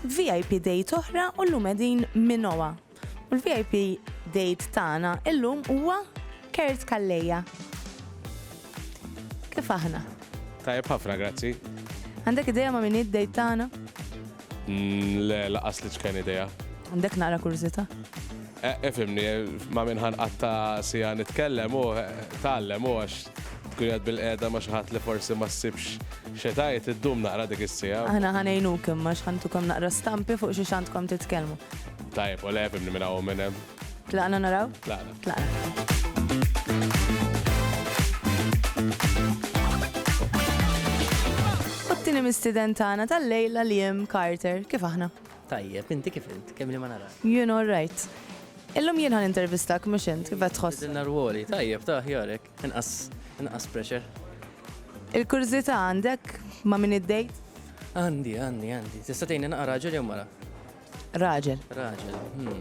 Vip date oħra u llum qegħdin Minoa. U l-VIP date tagħna illum huwa Kurt Calleja. Kif aħna? Tajjeb ħafna, grazzi. Għandek idea ma' min id-date tagħna? Mm, le, laqas li ċken idea. Għandek nara kurżita? Ifhimni, ma' min ħa nqatta' siegħa nitkellem u tgħallem u għax tkun qiegħed bilqiegħda ma' xi ħadd li forsi ma ssibx xi tgħid, iddum naqra dik is-siegħa. Aħna ħa ngħinuk imma għax ħa ntukom naqra stampi fuq xiex għandkom titkellmu. Tajjeb, u le ifhimni minn hawn u minn hemm. Tlaqna naraw? Tlaqna. Tlaqna. U t-tieni mistieden tagħna tal-lejla Liam Carter, kif aħna? Tajjeb, inti kif int? Kemm li ma narak. Jien all right. Illum jien ħa nintervistak mhux int, kif qed tħoss? Bidilna rwoli, tajjeb, ta' aħjar hekk. Inqas, inqas pressure. Il-kurżità għandek ma' min id-dejt? Għandi, għandi, għandi. Tista' tgħinni naqra raġel jew mara? Raġel. Raġel, hm.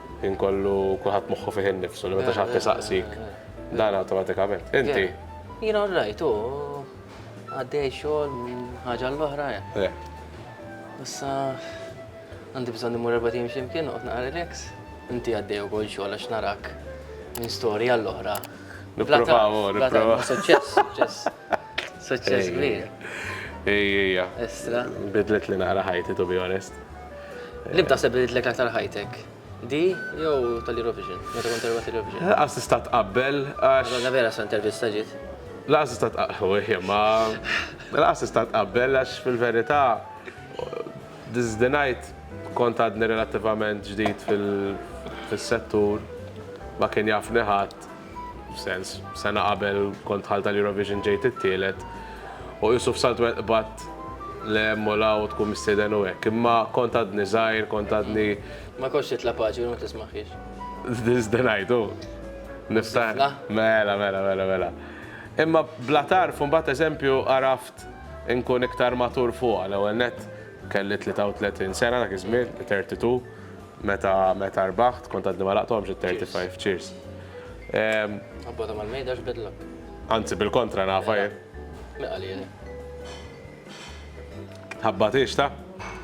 Ħin kollu kulħadd moħħu fih innifsu li meta xi ħadd isaqsik dan awtomatikament. Inti? Jien all right, u għaddej xogħol minn ħaġa l-oħra. Issa għandi bżonn imur erba' tim x'imkien noqgħod naqra relax. Inti għaddej ukoll xogħol għax narak minn storja l-oħra. Nipprovaw, nipprovaw. Suċċess, suċċess. Suċċess kbir. Ejja. Estra. Bidlet li naqra ħajti, to be honest. Li b'taħseb li bidlet aktar ħajtek? Di jew tal-Eurovision? Meta kont terba tal-Eurovision? Laqas tista' tqabbel għax. Għadha vera sa intervista ġiet. Laqas tista' tqabbel, ma. Laqas tista' tqabbel għax fil-verità this the night kont għadni relattivament ġdid fil-settur ma kien jafni ħadd. F'sens, sena qabel kont dħalt għal Eurovision ġejt it-tielet u qisu f'salt wieħed qbadt l hemm u l hawn u tkun mistieden u hekk. Imma kont għadni żgħir, kont għadni. Ma kontx titla' paġi u ma tismaħħiex. This the night, hu. Niftaħ. Mela, mela, mela, mela. Imma bla tarf u mbagħad eżempju għaraft inkun iktar matur fuqha. L-ewwel nett kelli 33 sena dak iż-żmien, 32. Meta meta rbaħt kont għadni ma laqthomx it 35 Cheers. Abbota mal mejda x'bidlok. Anzi bil-kontra nafa jien. Min qalieli. Tħabbatix ta?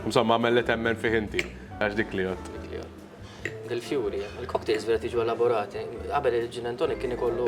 Insomma għamel li temmen fih inti. Għax dik li għodt. Dik li għodt. Dil-fjuri, il-cocktails vera tiġu elaborati. Qabel il-gin and tonic kien ikollu.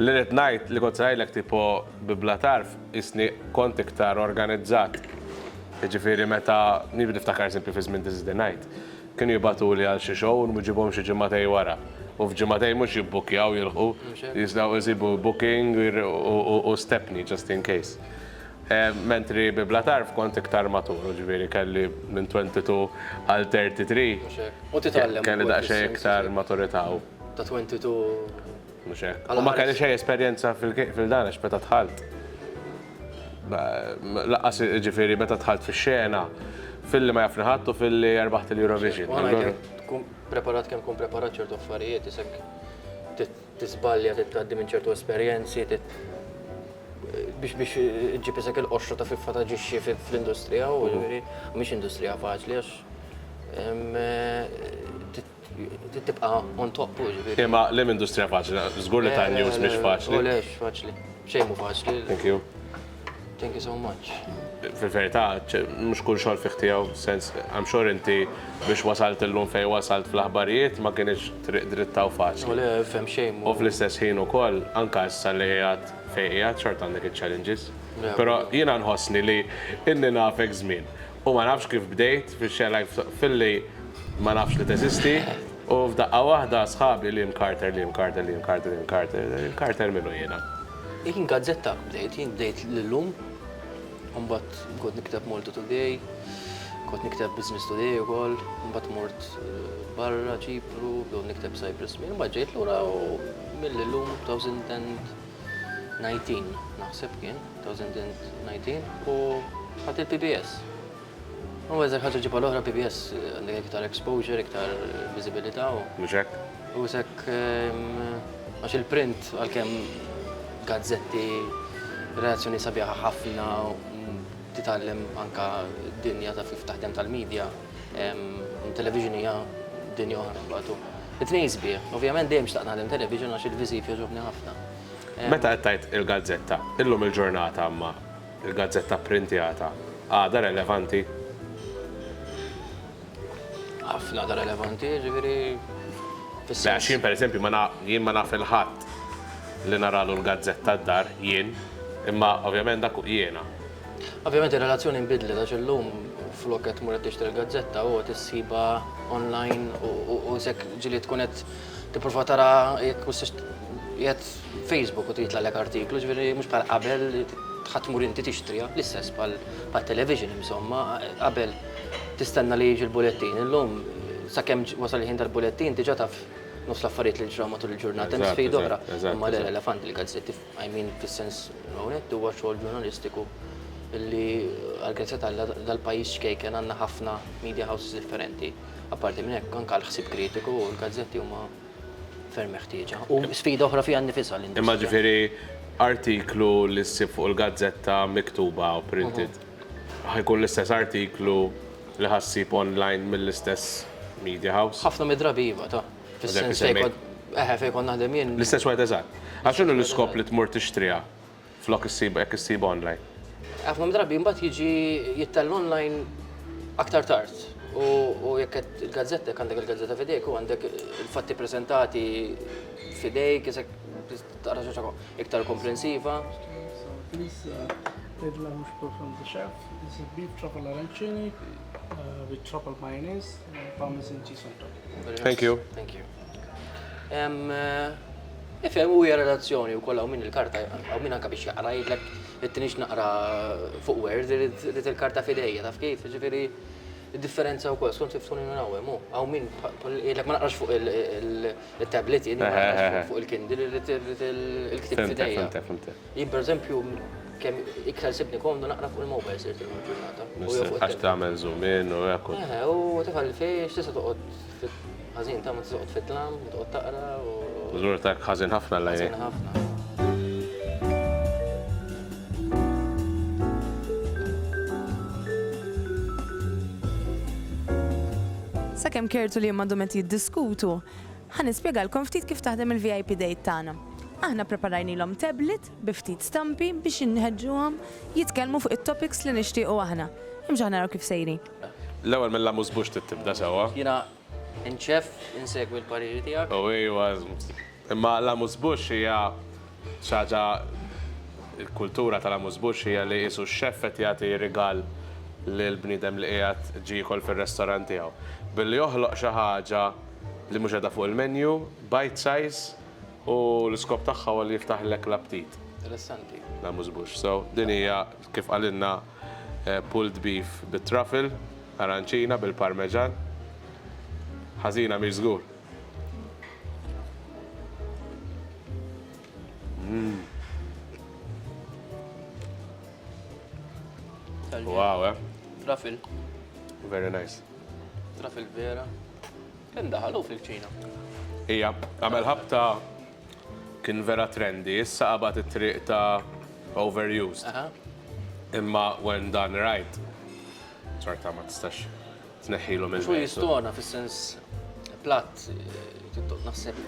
Li rrid ngħid li kont se ngħidlek tipo bi bla tarf qisni kont iktar organizzat. Jiġifieri meta, nieħu niftakar eżempju fi żmien This is the night, kienu jibgħatuli għal xi show u nwiġibhom xi ġimagħtej wara. U f'ġimagħtej mhux jibbukkjaw jilħqu, jistgħu jsibu booking u stepney just in case. Mentri bi Bla Tarf kont iktar matur, jiġifieri kelli minn 22 għal 33. Mhux hekk. U titgħallem ukoll. Kelli daqsxejn iktar maturità u. Ta' 22. Mhux hekk. U ma kelli xejn esperjenza fil-dan għax meta dħalt. Lanqas jiġifieri meta dħalt fix-xena, filli ma jafni ħadd u filli rbaħt il-Eurovision. Tkun preparat kemm tkun preparat ċertu affarijiet isek. Tiżbalja, trid tgħaddi minn ċertu esperjenzi, biex biex ġib isek il-qoxra ta' fiffa ta' ġixxi fl-industrija u ġifieri mhix industrija faċli għax tibqa' on top u ġifieri. Imma l-hemm industrija faċli, żgur li ta' news mhix faċli. Lex faċli, xejn mhu faċli. Thank you. Thank you so much. Fil-verità, mhux kull xogħol fih tiegħu sens, I'm sure inti biex wasalt illum fejn wasalt fl-aħbarijiet ma kienx triq dritta u faċli. U le, fem xejn. U fl-istess ħin ukoll, anke issa li qiegħed fejn qiegħed xort għandek iċ-challenges. Però jiena nħossni li inni nafek żmien U ma nafx kif bdejt fix-xena like filli ma nafx li teżisti u f'daqqa waħda sħabi Liam Carter, Liam Carter, Liam Carter, Liam Carter, Liam Carter min hu jiena? Jien gazzetta bdejt, jien bdejt l-illum, u mbagħad kont nikteb Malta Today, kont nikteb Business Today ukoll, mbagħad mort barra Ċipru, bdew nikteb Cyprus Mail, mbagħad ġejt lura u mill-illum 2010 19 naħseb kien, 2019, u ħadd il-PBS. U eżek ħaġa ġibha l-oħra PBS għandek iktar exposure, iktar viżibilità u. Mhux hekk? U eżek ehm, għax il-print għalkemm gazzetti reazzjoni sabiħa ħafna titgħallem anka dinja ta' kif taħdem tal-medja. Television hija dinja oħra mbagħad. It-tnejn sbieħ. Ovvjament dejjem xtaqt naħdem television għax il-viżiv jogħġobni ħafna. Meta qed tgħid il-gazzetta, illum il-ġurnata imma l-gazzetta pprintjata għadha relevanti? Ħafna għadha relevanti, jiġifieri fis-sens. Għax jien pereżempju ma jien ma naf il-ħadd li naralu l-gazzetta d-dar jien, imma ovvjament dak jiena. Ovvjament ir-relazzjoni nbidlet għax illum flok qed tmur qed tixtri l-gazzetta u qed issibha online u sekk ġili tkun qed tipprova tara jekk jgħid Facebook u titla' lek artiklu, ġifieri mhux bħal qabel tmur inti tixtriha, l-istess bħal television insomma, qabel tistenna li jiġi l-bulettin, illum sakemm wasal il-ħin tal-bulettin diġà taf nofs l-affarijiet li ġraw matul il-ġurnata, hemm sfida oħra, imma l-elefant il-gazzetti. I mean fis-sens onett huwa xogħol ġurnalistiku li għall-grazzja t'Alla dal-pajjiż ċkejken għandna ħafna media houses differenti. Apparti minn hekk anke l-ħsieb kritiku u l-gazzetti huma ferm meħtieġa. U sfida oħra fiha nnifisha l-industrija. Imma ġifieri artiklu li ssib fuq il-gazzetta miktuba u printed ħa jkun l-istess artiklu li ħa ssib online mill-istess media house? Ħafna mid-drabi iva, ta. Fis-sens fejn kont. Eħe, fejn kont naħdem jien. L-istess wieħed eżatt. Għax x'inhu l-iskop li tmur tixtriha flok issib jekk issib online? Ħafna mid-drabi mbagħad jiġi jittella online aktar tard. U jekk qed il-gazzetta, jekk għandek il-gazzetta f'idejk u għandek il-fatti preżentati f'idejk, isek tara xi ħaġa iktar komprensiva. Bidla mhux profondi xef, is a bit trouble arancini, with trouble mayonnaise, parmesan cheese on top. Thank you. Thank you. Ifhem u hija relazzjoni u kollha minn il-karta u minn anke biex jaqra jidlek it-tinix naqra fuq word irid il-karta fidejja taf kif, ġifieri differenza wkoll skont kif tkun minn hawn hemm hawn min jgħidlek ma naqrax fuq il-tablet jien fuq il-Kindle irid il-ktieb fidejja. Jien pereżempju kemm iktar sibni komdu naqra fuq il-mobile sirt illum il-ġurnata. Għax tagħmel zoom in u hekk. Eħe, u tifha li fiex tista' toqgħod ħażin ta' ma tista' toqgħod fit-tlam, toqgħod taqra u. Żgur ta' ħażin ħafna l Ħażin ħafna. Sakemm Kertu li Imma għandhom qed jiddiskutu, Ħa nispjegalkom ftit kif taħdem il-VIP Date tagħna. Aħna ppreparajnilhom tablet bi ftit stampi biex inħeġġuhom jitkellmu fuq it-topics li nixtiequ aħna. Imxu naraw kif sejri. L-ewwel mill-amuse-bouche trid tibda sewwa. Jiena nċeff insegwi l-pariri tiegħek. O ejwa, imma l-amuse-bouche hija Xi ħaġa l-kultura tal-amuse-bouche hija li qisu x-xef qed jagħti rigal lill-bniedem li qiegħed ġie jiekol fir-restorant tiegħu. Billi joħloq xi ħaġa li mhux qiegħda fuq il-menu, bite size, u l-iskop tagħha huwa li jiftaħlek l-aptit. Interessanti. L-amuse-bouche. So, din hija, kif qalilna, pulled beef bit-truffle, aranċina bil-parmeġan. Ħażina mhix żgur. Wow, eh? Trafil. Very nice. Trafil vera. Ken daħalu fil-ċina. Ija, għamel ħabta kien vera trendy, issa għabat it-triq ta' overused. Imma when done right, sorta ma tistax tneħħilhom il-mewt. Għax hu jistona fis-sens platt naħseb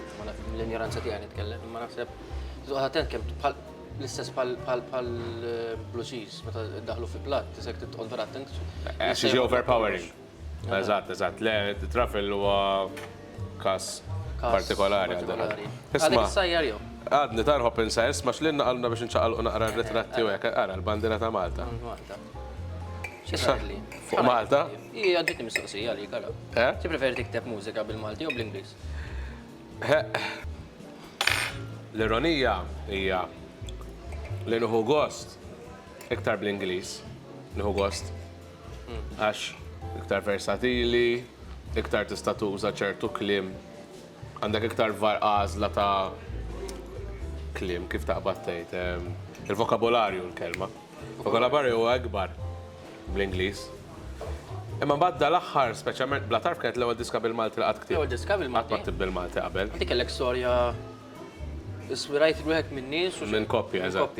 l-injoranza tiegħi nitkellem, imma naħseb tuqgħod attent kemm l-istess bħal blue cheese meta daħlu fi platt, tisek titqgħod vera attent. Xi overpowering. Eżatt, eżatt. Le, trafel huwa Każ partikolari għal dan. Isma'. Sajjar jew? Għadni tarħob insa isma' x'linna qalna biex inċaqalqu naqra r-ritratti u hekk ara l-bandiera ta' Malta. Malta. X'isarli? Fuq Malta? Hija ġietni mistoqsija għalik ara. Eh? Tippreferi tikteb mużika bil-Malti jew bl-Ingliż? L-ironija hija li nieħu gost iktar bl-Ingliż. Nieħu gost. Għax iktar versatili, iktar tista' tuża ċertu kliem, għandek iktar għażla ta' kliem kif taqbad tgħid. Il-vokabolarju l-kelma. Vokabolarju huwa ikbar bl-Ingliż. Imma mbagħad dal-aħħar, speċjalment bla tarf kienet l-ewwel diska bil-Malti li qatt ktibt. L-ewwel diska bil-Malti. Qatt ktibt bil-Malti qabel. Inti kellek storja iswirajt wieħed min-nies u minn koppja, eżatt.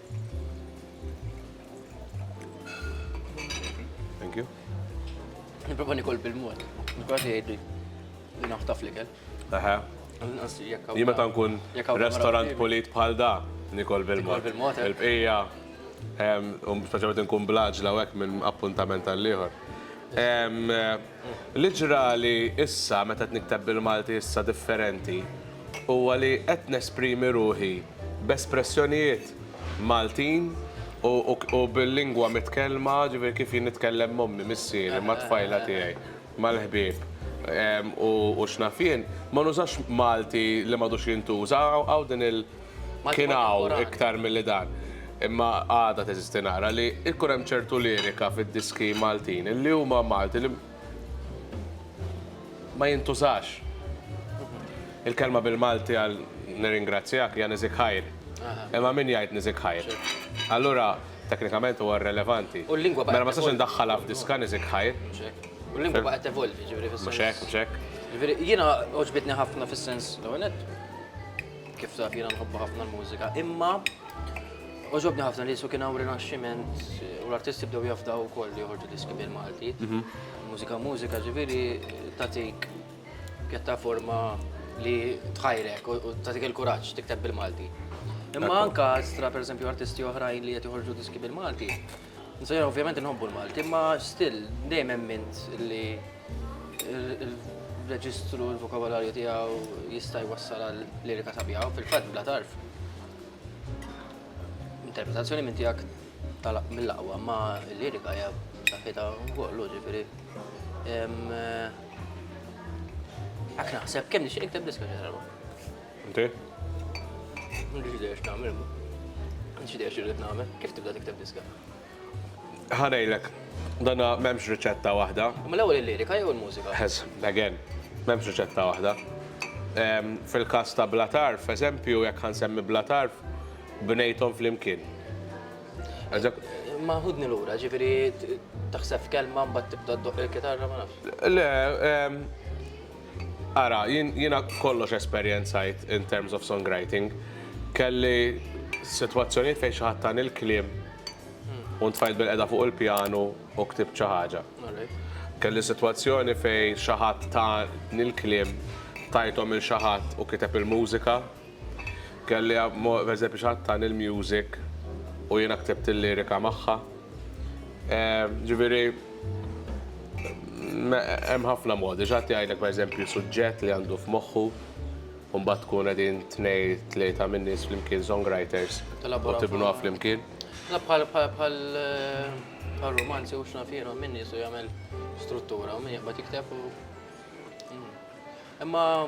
Thank you. Niprofa nikol bil-mod. Niprofa jgħidli li naħtaf li kell. Aha. Jien meta nkun restaurant polit bħal da, nikol bil-mod. Eh? Il-bqija, um, speċjalment nkun blaġla u hekk minn appuntament għall-ieħor. Li ġrali issa meta qed nikteb bil-Malti issa differenti huwa li qed nesprimi ruħi b'espressjonijiet Maltin u bil-lingwa mitkellma, ġifieri kif jien nitkellem m'ommi, missieri, mat-tfajla tiegħi, mal-ħbieb u x'naf jien, ma nużax Malti li m'għadux jintuża, hawn din il-, Kien hawn iktar milli dan. Imma għadha teżisti nara li jkun hemm ċertu lirika fid-diski Maltin li huma Malti li ma jintużax. Il-kelma bil-Malti għal nirringrazzjak hija niżik ħajr. Imma min jgħid niżik ħajr? Allura teknikament huwa rrelevanti. U l-lingwa baqgħet. Mela ma sax indaħħalha f'diska niżik ħajr. U l-lingwa baqgħet tevolvi, ġifieri fis-sens. Mhux hekk, mhux hekk. Jiena għoġbitni ħafna fis-sens l-ewwel Kif taf jiena nħobba ħafna l-mużika, imma oġobni ħafna li jisu kien hawn rinaxximent u l-artisti bdew jafdaw ukoll li joħorġu diski bil-Malti. Mhm. Mużika mużika ġifieri tatik pjattaforma li tħajrek u tatik il-kuraġġ tikteb bil-Malti. Imma anka stra per esempio artisti oħrajn li qed joħorġu diski bil-Malti, Insomma, ovvjament nħobbu l-Malti, ma still dejjem emmint li il-reġistru, il-vokabolarju tiegħu jista' jwassal għal lirika sabiħa, fil-fatt bla tarf. Interpretazzjoni minn tiegħek mill-aqwa, ma l-lirika hija saħħitha wkoll, ġifieri. Għak naħseb kemm nixtieq ikteb diska ġarba. Inti? M'għandix idea x'nagħmel. M'għandix idea x'irrid nagħmel. Kif tibda tikteb diska? Ħanejlek, dana m'hemmx riċetta waħda. Ma l-ewwel il-lirika jew il-mużika? Ħes, again, m'hemmx riċetta waħda. Ehm, fil-każ ta' Bla Tarf, eżempju, jekk ħansemmi Bla Tarf, bnejthom flimkien. Ma ħudni lura, ġifieri taħseb kelma mbagħad tibda ddoq il-kitarra ma nafx. Le, ehm, Ara, jien jiena kollox esperjenzajt in terms of songwriting. Kelli sitwazzjonijiet fejn xi ħadd tani l-kliem u ntfajt bilqiegħda fuq il-pjanu u ktibt xi ħaġa. Kelli sitwazzjoni fejn xi ħadd tani l-kliem, tajthom lil xi ħadd u kiteb il-mużika. Kelli amm pereżempju xi ħadd tani l-music u jiena ktibt il-lirika magħha. Ġifieri hemm ħafna modi. Xi ħadd jgħidlek pereżempju suġġett li għandu f'moħħu u mbagħad tkun qegħdin tnej tlieta minn nies flimkien songwriters u tibnuha flimkien. La bħal bħal bħal rumanzi u x'naf jiena min nies u jagħmel struttura u min jaqbad jikteb u Imma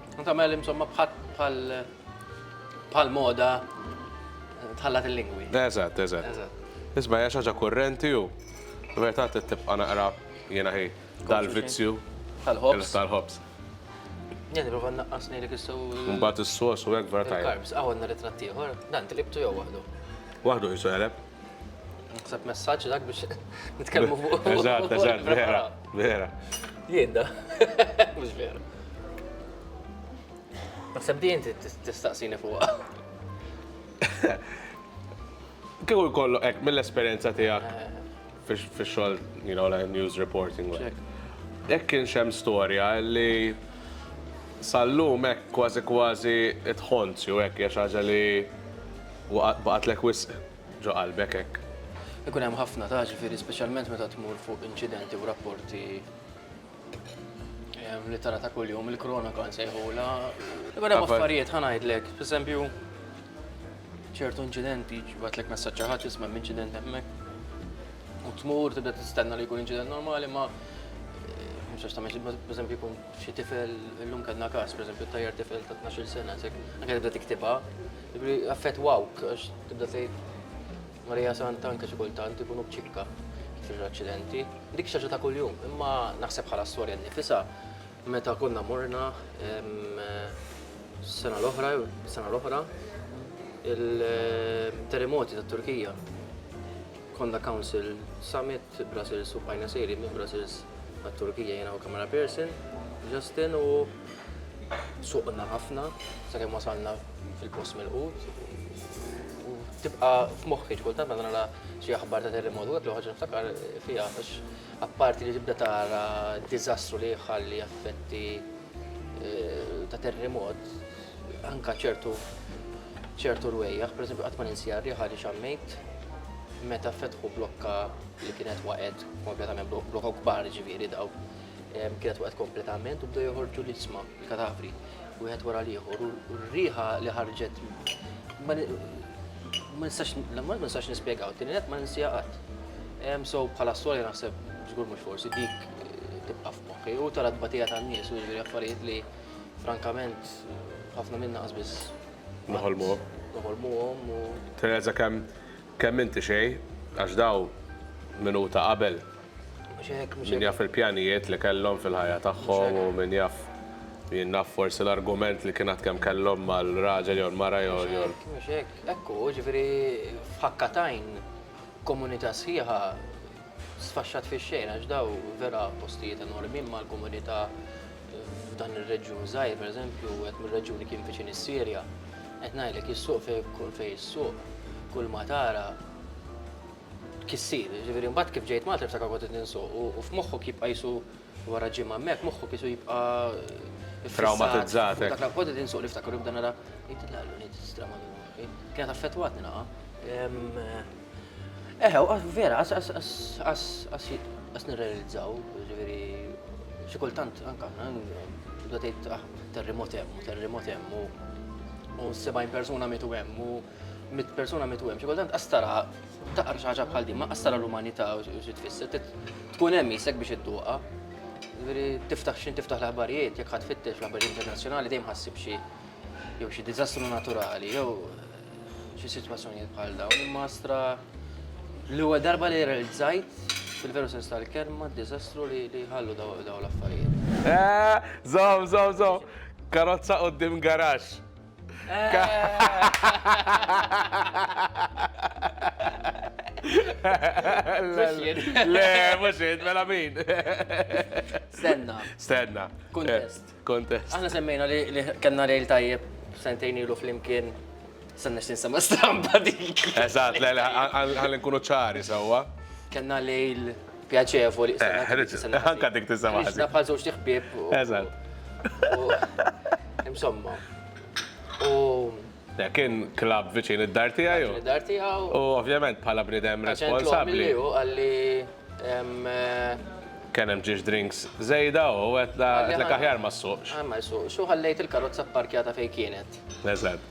U tagħmel insomma bħal bħal moda tħallat il-lingwi. Eżatt, eżatt. Isma' hija xaġa kurrenti u meta tibqa' naqra jiena ħi dal-vizzju tal-ħobs. Tal-ħobs. Jien nipprova nnaqqas ngħidlek issew. Mbagħad is-sos u hekk vera tajjeb. Il-karbs, hawn għandna ritratt ieħor, dan tilibtu jew waħdu? Waħdu qisu jeleb. Naħseb messaġġ dak biex nitkellmu fuq. Eżatt, eżatt, vera, vera. Jiedda, mhux vera. Naħseb di inti tistaqsini fuqha. Kieku jkollu hekk mill-esperjenza tiegħek eh. fix-xogħol, you know, like news reporting. Hekk kien xem storja li sallum hekk kważi kważi itħonzju hekk hija xi ħaġa li U baqgħetlek wisq ġo qalbek hekk? Ikun hemm ħafna ta' ġifieri speċjalment meta tmur fuq inċidenti u rapporti li tara ta' kuljum il-kronaka nsejħulha. Ikun hemm affarijiet ħa ngħidlek, pereżempju ċertu inċidenti jibgħatlek messaġġ xi ħadd isma' hemm inċident hemmhekk. U tmur tibda tistenna li jkun inċident normali ma mhux għax tagħmel xi pereżempju jkun xi tifel illum kellna każ pereżempju tajjar tifel ta' tnax-il sena anke tibda tiktibha. Ġifri, affettwawk, għax tibda tgħid Marija Santa anke xi kultant ikunu b'ċikka fil aċċidenti Dik xaġa ta' kuljum, imma naħseb bħala storja nnifisha meta konna morna sena l-oħra, sena l-oħra, il-terremoti tat-Turkija. Konna Council Summit Sitt Brussels u bqajna sejrin minn Brussels għat-Turkija jiena u camera person, Justin u suqna ħafna sakemm wasalna fil-post milqut u tibqa' f'moħħi xi kultant meta nara xi aħbar ta' terremot u hekk l-ewwel ħaġa niftakar fiha għax apparti li tibda tara d-diżastru li jħalli effetti eh, ta' terremot, anka ċertu ċertu rwejjaħ, per esempio, għatman insjarri ħari xammejt, meta fetħu blokka li kienet waqed kompletament, blokka kbar ġiviri daw, kienet waqed kompletament u bdew joħorġu l-isma, il-katavri, u għed wara liħor, u r-riħa li ħarġet, ma nistax nispiegaw, t-tinet ma ninsijaqat. So bħala s-soli naħseb, ġgur mux forsi, dik eh, tibqa Okej, u tara t-tbatija tan-nies u jiġri affarijiet li frankament ħafna minna qasbiss. Noħolmuhom. Noħolmuhom u. Tirrealizza kemm kemm inti xejn għax daw minuta qabel. Mhux hekk, mhux hekk. Min jaf il-pjanijiet li kellhom fil-ħajja tagħhom u min jaf jien naf forsi l-argument li kien għad kemm kellhom mal-raġel jew l-mara jew. Mhux hekk, mhux hekk. Hekk hu, jiġifieri f'ħakka t'għajn komunità sħiħa sfaxxat fix-xejn għax daw vera postijiet enormi imma l-komunità f'dan ir-reġjun żgħir pereżempju qed mir-reġjuni kien viċin is-Sirja qed ngħidlek is-suq fejn fejn is-suq kull ma tara kissir, ġifieri mbagħad kif ġejt Malta niftakar kont qed ninsuq u f'moħħok jibqa' jisu Wara ġimgħa hemmhekk moħħu kisu jibqa' traumatizzat. Dak la kont qed insuq niftakar jibda nara jidla l-unit strama kienet affettwatni naqa. Eħe, vera, għas nirrealizzaw, ġifieri xi kultant anke bda tgħid ah, terremot hemm, terremot hemm u 70 persuna mitu hemm u mit persuna mitu hemm, xi kultant qastara taqra xi ħaġa bħal din, ma qastara l-umanità u xi tfisser, tkun hemm isek biex idduqa. Veri tiftaħ xin tiftaħ l-aħbarijiet, jekk ħadd fittex l-aħbarijiet internazzjonali dejjem ħassib xi jew xi diżastru naturali jew eh, xi sitwazzjonijiet bħal dawn. Imma stra l-ewwel darba li realizzajt fil-veru sens tal-kelma d-diżastru li ħallu daw l-affarijiet. Eh, zom, zom, zom. Karozza qoddim garax. Le, mux id, mela min. Stenna. Stenna. Kontest. Eh, kontest. Aħna semmejna li kanna lejl tajjeb sentejn ilu fl-imkien. Sanna xtin sama stampa dik. Eżat, le, le, għal nkunu ċari sawa. Kanna lejl pjaċevoli. Eh, anka dik tisema. Ħriġna bħal żewġ tiħbieb. Eżatt. Insomma. U. Kien klab viċin id-dar tiegħi. Id-dar tiegħu. U ovvjament bħala bnidem responsabbli. Għalli eh, kien hemm ġiex drinks żejda u qed l-aħjar ma ssuqx. Ah, ma ssuqx. U ħallejt il-karozza pparkjata fejn kienet. Eżatt.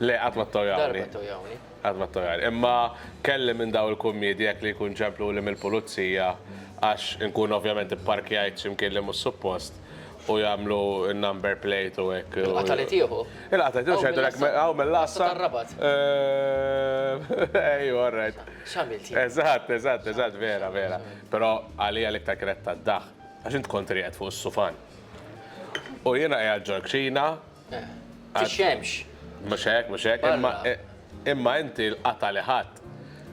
Le, qatt ma ttojawni. Darba ttojawni. Qatt ma ttojawni. Imma kelli minn daw il-kummiedi hekk li jkun ċempluli mill-pulizija għax inkun ovvjament ipparkjajt xi mkien li mhux suppost u jagħmlu n-number plate u hekk. Il-qatgħa li tieħu? Il-qatgħa li tieħu x'għedulek hawn mill-Għassa. Tar-Rabat. Ejja, all right. X'għamilt jien? Eżatt, eżatt, eżatt, vera, vera. Però għalija l-iktar kienet tad-daħk għax int kont qiegħed fuq is-sufan u jiena qiegħed ġol-kċina, Tixxemx. Mhux hekk, mhux hekk, imma imma inti l-qatgħa li ħadt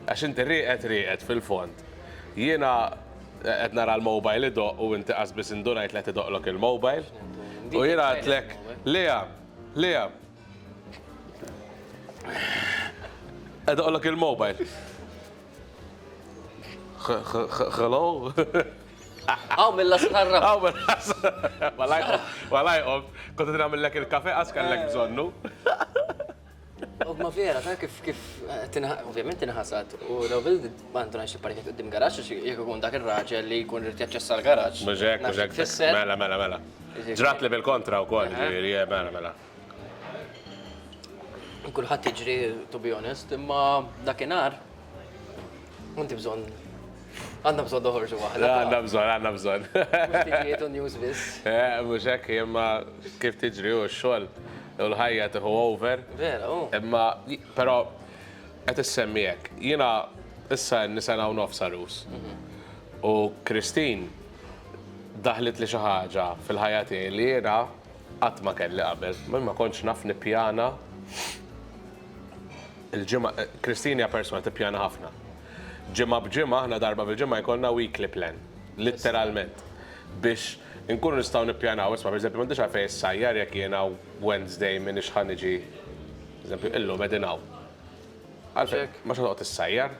għax inti rieqed rieqed fil-fond. Jiena qed nara l-mobile idoqq u inti qas biss indunajt li qed idoqqlok il-mobile. U jiena għedtlek, Lea, Lea. Qed idoqqlok il-mobile. Hello? Aw milla sħarra. Aw milla sħarra. Walaj qomt, kont nagħmillek il-kafe għax kellek bżonnu. U ma vera, ta' kif kif ovvjament tinħasad u daw bil għandu għax il-parket qudiem garaġġ għax jekk ikun dak ir-raġel li jkun rid jaċċessa l-garaġġ. Mużek, mużek. Mela, mela, mela. Ġrat li bil-kontra wkoll, ġifieri, mela, mela. Kulħadd jiġri to be honest, imma dakinhar inti bżonn għandna bżonn noħorġu waħda. Għandna bżonn, għandna bżonn. Mhux u news biss. Eh, mhux hekk imma kif tiġri u x-xogħol u l-ħajja tieħu over. Vera, u. Imma però qed issemmi hekk. Jiena issa nisena u nofs arus. Mhm. U Kristin daħlet li xi ħaġa fil-ħajja tiegħi li jiena Qatt ma kelli qabel. Ma kontx naf nippjana. Il-ġimgħa, Christine hija persuna tippjana ħafna. Ġimgħa b'ġimgħa aħna darba fil-ġimgħa jkollna weekly plan. Litteralment. Biex inkunu nistgħu nippjanaw, isma' pereżempju m'għandix għalfejn issajjar jekk jiena Wednesday m'iniex ħa niġi, pereżempju illum qegħdin hawn. Għalfejn? M'għandx għalfejn toqgħod issajjar.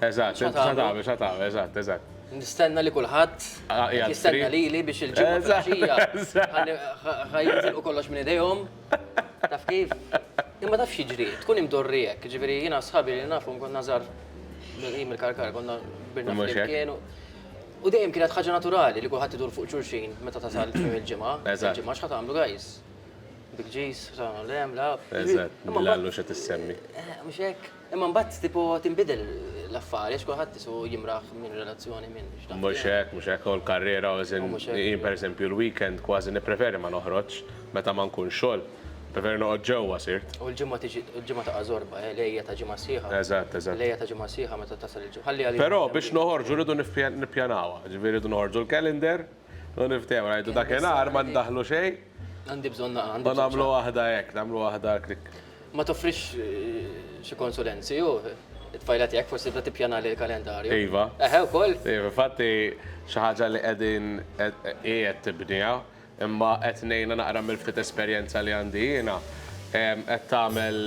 Eżatt, X'ħa tagħmlu? x'ħatagħmel, x'ħatagħmel, eżatt, eżatt. Nistenna li kulħadd Ah, qed jgħaddri. jistenna lili biex il-ġimgħa Eżatt, filgħaxija eżatt. ħa ni- ħa- ħa jintilqu kollox minn idejhom. Taf kif? Imma taf x'jiġri? Tkun imdorri hekk, jiġifieri jiena sħabi li nafhom konna żgħar minn hi mill-Karkar, konna kbirna Mhux hekk. flimkien u u dejjem kienet ħaġa naturali li kulħadd idur fuq xulxin meta tasal tmiem il-ġimgħa. Eżatt. Il-ġimgħa x'ħa tagħmlu guys? Bil-ġis, x'ħa tagħmlu le, mla. Eżatt, Imma mbagħad- bil-għallu xa tissemmi. Eh, Mhux hekk? Imma mbagħad tipo tinbidel l-affari għax kulħadd isu jimraħ minn relazzjoni minn x'taf. Mhux hekk, mhux hekk, hu l-karriera as in jien pereżempju l-weekend kważi nippreferi ma noħroġx meta ma nkunx xogħol. Nippreferi noqgħod ġewwa sirt. U l-ġimgħa tiġi, il-ġimgħa taqa' żorba, eh, l-għejja ta' ġimgħa sħiħa. Eżatt, eżatt. L-għejja ta' ġimgħa sħiħa meta tasal il-ġimgħa. Ħalli għalina. Però biex noħorġu rridu nippjanawha, jiġifieri rridu noħorġu l-calendar u niftehmu, ngħidu dak inhar ma ndaħħlu xejn. Għandi bżonn naqra. Ma nagħmlu waħda hekk, nagħmlu waħda klik. Ma toffrix xi konsulenzi u it-tfajla tiegħek forsi tibda tippjana li l-kalendarju. Iva. Eħe wkoll. Iva, fatti xi ħaġa li qegħdin qiegħed tibniha, imma qed ngħinha naqra mill-ftit esperjenza li għandi jiena. Qed tagħmel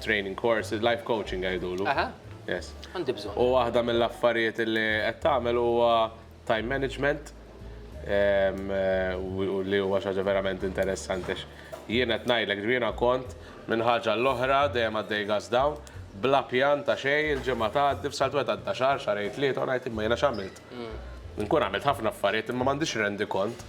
training course, life coaching jgħidulu. Aha. Yes. Għandi bżonn. U waħda mill-affarijiet li qed tagħmel huwa time management u li huwa xi ħaġa verament interessanti għax jien qed ngħidlek jiena kont minn ħaġa għal oħra dejjem għaddej gas down bla pjan ta' xejn il-ġimgħa tgħaddi f'saltwet għadda xahar xahrejn tlieta u ngħid imma jiena x'għamilt. Inkun għamilt ħafna affarijiet imma m'għandix rendikont.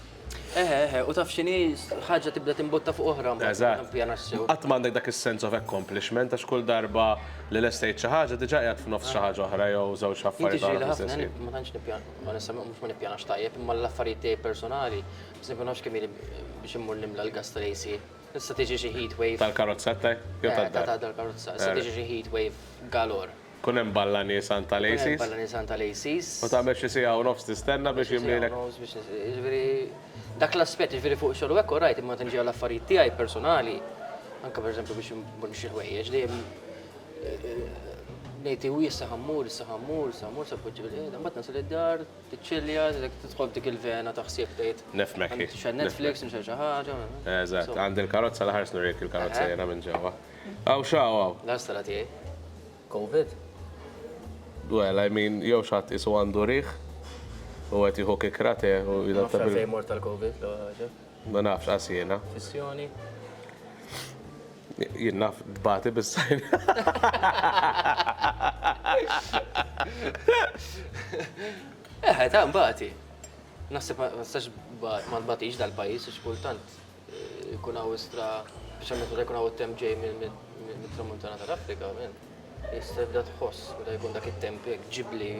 Eħe, eħe, u taf x'inhi ħaġa tibda timbotta fuq oħra mbagħad pjana sew. Qatt m'għandek dak is-sense of accomplishment għax kull darba li lestejt xi ħaġa diġà qiegħed f'nofs xi ħaġa oħra jew żewġ affarijiet oħra. Jiġri ħafna, jien ma tantx nippjana, onestament mhux ma nippjanax tajjeb, imma l-affarijiet tiegħi personali, pereżempju ma nafx kemm ili biex immur nimla l-gass tal-AC. Issa tiġi xi heatwave. Tal-karozza tiegħi jew tad-dar? Ta' tal-karozza. Issa tiġi xi heatwave galore. Tkun hemm balla niesan tal-ACs. Tkun hemm balla niesan tal-ACs. U tagħmel xi siegħa u nofs tistenna biex jimlielek. Jiġifieri dak l-aspett, jiġifieri fuq ix-xogħol u hekk orajt, imma meta niġi għal affarijiet tiegħi personali, anke pereżempju biex immur nixtri ħwejjeġ, dejjem ngħid iwi issa ħa mmur, issa ħa mmur, issa ħa mmur, se poġġi bil-qiegħda, mbagħad nasal id-dar, tiċċilja, tidħol f'dik il-vena ta' ħsieb tgħid. Nifhmek hi. X'għan Netflix, nixtri xi ħaġa. Eżatt, għandi l-karozza l-aħħar snurejk il-karozza jiena minn ġewwa. Hawn x'hawn hawn. Dan x'sena tiegħi? Covid? Well, I mean, jew xi ħadd qisu għandu riħ u qed jieħu kikra te u Ma nafx għalfejn immort għal Covid l-ewwel ħaġa. Ma nafx qas jiena. Fissjoni. Jien naf tbati bis-sajn. Eħe, ta' nbati. Naħseb ma nistax ma tbatix dal-pajjiż għax kultant Ikun hawn istra, speċjalment meta jkun hawn it-temp ġej mit-tramuntana tal-Afrika, men. Jista' jibda tħoss meta jkun dak it-temp hekk ġibli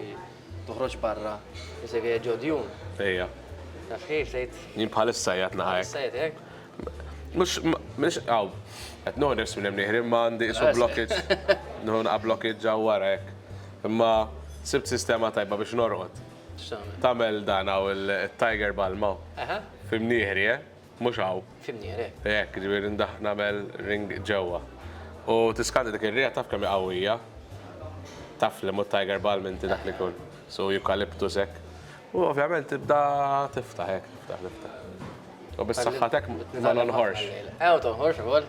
toħroġ barra jista' jkun ġew djun. Ejja. Taf kif tgħid? Jien bħalissa qiegħed naqa' hekk. Bħalissa qiegħed hekk? Mhux mhux hawn. Qed noħu nifs minn hemm nieħri imma għandi isu blockages. Noħu naqa' blockages ġewwa wara hekk. Imma sibt sistema tajba biex norqod. X'tagħmel? Tagħmel dan hawn it-Tiger Balm hawn. Aha. F'Imnieħri, eh? Mhux hawn. F'Imnieħri, eh. Hekk, jiġifieri ndaħħ nagħmel ring ġewwa. U tiskandi dik ir-riħa taf kemm hi qawwija. Taf li mhu Tiger Balm inti dak li jkun. Su eucalyptus hekk. U ovvjament tibda tiftaħ hekk, tiftaħ, tiftaħ. U bis-saħħa t'hekk ma nonħorx. Ew tonħorx ukoll.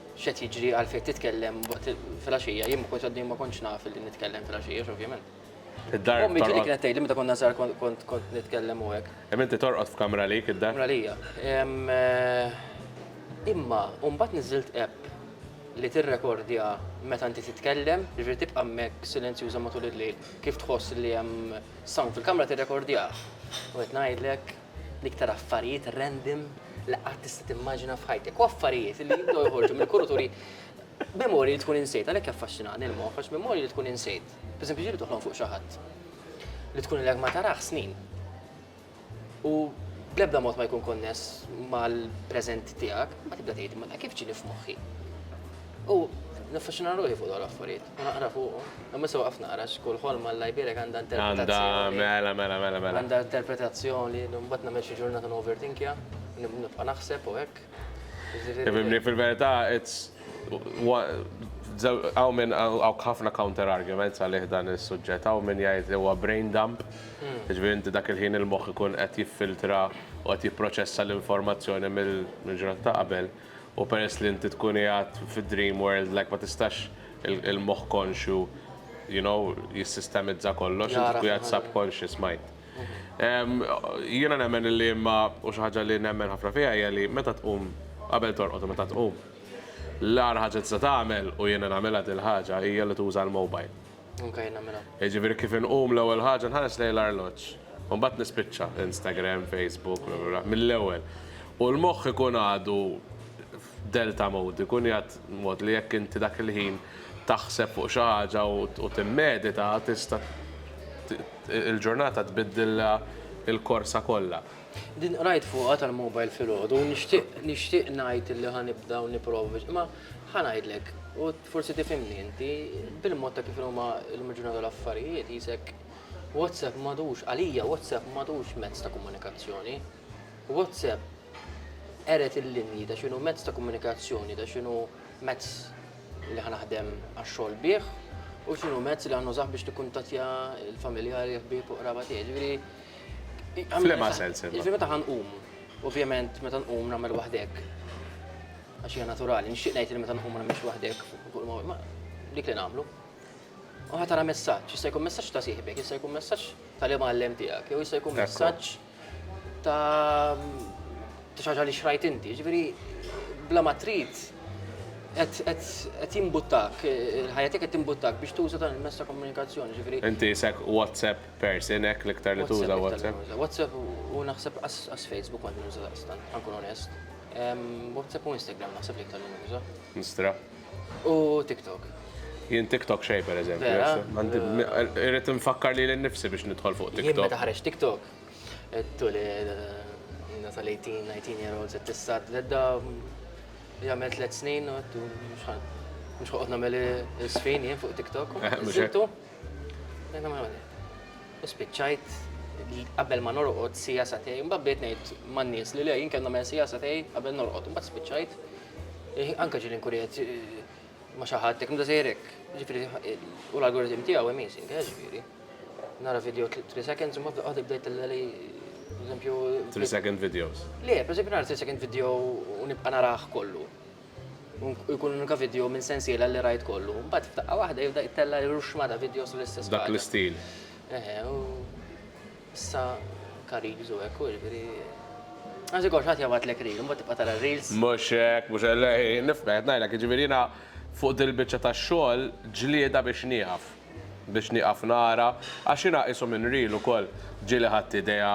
X'qed jiġri għalfejn titkellem waqt filgħaxija, jien ma kontx għaddej ma kontx naf li nitkellem filgħaxija x'ovvjament. Id-dar. Ommi ġieli kienet tgħidli meta konna żgħar kont kont nitkellem u hekk. Imma inti torqod f'kamra għalik id-dar? Kamra għalija. Imma u mbagħad niżżilt app li tirrekordja meta inti titkellem, jiġifieri tibqa' hemmhekk silenzjuża matul il-lejl kif tħoss li hemm sound fil-kamra tirrekordjah. U qed ngħidlek. l-iktar affarijiet random li qatt tista' timmaġina f'ħajtek. U affarijiet li jibdew joħorġu mill-kuruturi memori li tkun insejt, għalhekk jaffaxxinani l-moħħ, għax memori li tkun insejt. Pereżempju, ġiri toħlom fuq xi ħadd li tkun l ma taraħ snin. U bl-ebda mod ma jkun konness mal-preżent tiegħek, ma tibda tgħid ma kif ġini f'moħħi. U naffaxxina ruħi fuq dawn l-affarijiet. Naqra fuqhom. Imma issa waqaft naqra għax kull ħolma Alla jbierek għandha interpretazzjoni. Għandha, mela, mela, mela, mela. Għandha interpretazzjoni, mbagħad nagħmel xi ġurnata noverthinkja, nibqa' naħseb u hekk. Tifhimni, fil-verità, it's Hawn minn hawn ħafna counter arguments għalih dan is-suġġett, hawn minn jgħid li huwa brain dump, hmm. ġifieri inti dak il-ħin il-moħħ ikun qed jiffiltra u qed jipproċessa l-informazzjoni mill-ġurnata ta' qabel. U peress li inti tkun qiegħed fi dream world like ma tistax il-moħħ konxju you know jissistemizza kollox, inti tkun qiegħed subconscious mind. Jiena nemmen li imma u xi ħaġa li nemmen ħafna fiha hija li meta tqum qabel torqod u meta tqum l-agħar ħaġa tista' tagħmel u jiena nagħmilha dil-ħaġa hija li tuża l-mobile. Anke jien nagħmilha. Jiġifieri kif inqum l-ewwel ħaġa nħares lejn l-arloġġ. U mbagħad nispiċċa Instagram, Facebook, bla bla bla, mill-ewwel. U l-moħħ ikun għadu f'delta mode, ikun jgħid mod li jekk inti dak il-ħin taħseb fuq xi ħaġa u timmedita tista' il-ġurnata tbiddilha l-korsa kollha. Din qrajt fuqha tal-mobile filgħodu u nixtieq nixtieq ngħid li ħa nibda u nipprova biex imma ħa ngħidlek u Forsi tifhimni inti, bil-mod ta' kif huma llum il-ġurnata l-affarijiet, qisek WhatsApp m'għadux, għalija WhatsApp m'għadux mezz ta' komunikazzjoni. WhatsApp qered il-linji ta' x'inhu mezz ta' komunikazzjoni, ta' x'inhu mezz li ħa naħdem għax-xogħol bih u x'inhu mezz li ħa nużah biex nikkuntattja l-familjari, l-ħbieb u qraba tiegħi. Ġifieri, ġifieri meta ħa nqum, ovvjament meta nqum nagħmel waħdek. Għax hija naturali, nixtieq ngħid li meta nqum ma nagħmilx waħdek fuq il-mowt, ma dik li nagħmlu. U ħadd ara messaġġ, jista' jkun messaġġ ta' sieħbek, jista' jkun messaġġ tal-imgħallem tiegħek, jew jista' jkun messaġġ ta' ta' xaġa li xrajt inti, ġifieri bla ma trid qed jimbuttak, ħajjatek qed timbuttak biex tuża dan il-mezz ta' komunikazzjoni, ġifieri. Inti isek WhatsApp person hekk l-iktar li tuża WhatsApp. WhatsApp u naħseb qas Facebook ma nuża daqstant, ħankun onest. WhatsApp u Instagram naħseb li iktar nuża. Instra. U TikTok. Jien TikTok xej per eżempju. Irrid nfakkar li l-nifsi biex nidħol fuq TikTok. Jien meta ħareġ TikTok. Tuli tal-18, 19 year old set tista' tledda jagħmel tliet snin u mhux ħoqgħod nagħmel is-sfin jien fuq TikTok. Mhux U spiċċajt qabel ma norqod siegħa satej, imbagħad bdejt ngħid man-nies li le jien kellna men siegħa satej qabel norqod, imbagħad spiċċajt eh, anke ġieli nkun qed eh, ma xi ħadd hekk mdażejrek. Ġifieri eh, u l-algoritm tiegħu amazing, eh, ġifieri. Nara video 3 seconds u ma bdaqgħod bdejt li eżempju 3 second videos. Le, per eżempju nara 3 second video u nibqa' narah kollu. u jkun unika video minn sensiela li rajt kollu. Mbagħad f'daqqa waħda jibda jittella' ruxma ta' videos l-istess. Dak l-istil. Eħe, u issa kariż u hekk u jiġifieri. Għażi kollox ħadd jabgħatlek reel, imbagħad tibqa' tara reels. Mhux hekk, mhux hekk, nifhem qed ngħidlek, jiġifieri jiena fuq dil-biċċa tax-xogħol ġlieda biex nieqaf. biex nieqaf nara għax jiena qisu minn reel ukoll ġieli ħadt idea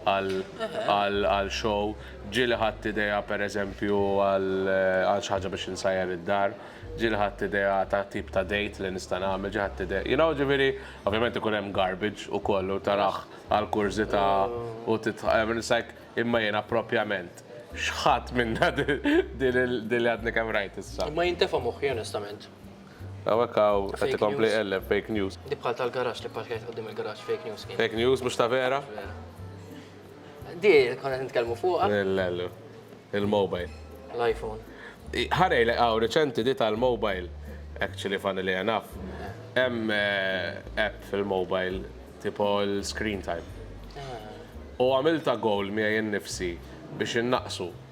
għal show, ġieli ħadt idea pereżempju għal xi ħaġa biex insajjar id-dar, ġieli ħadt idea ta' tip ta' date li nista' nagħmel, ġieli ħadt idea, you know, ġifieri, ovvjament ikun hemm garbage ukoll u tarah għal kurżità u titħajjar, it's like, imma jiena proprjament x'ħadt minnha din li għadni kemm rajt issa? Imma jintefa' moħħi onestament. Hawnhekk hawn qed ikompli iqelleb fake news. Dik bħal tal-garaxx li pparkjajt quddiem il-garaxx fake news kienet. Fake news mhux ta' vera? Di konna qed nitkellmu fuqha. Il-lelu. Il-mobile. L-iPhone. Ħarejlek hawn riċenti di tal-mobile. Actually funnily enough. Hemm app fil-mobile tipo l-screen time. U għamiltha goal miegħi nnifsi biex innaqqsu.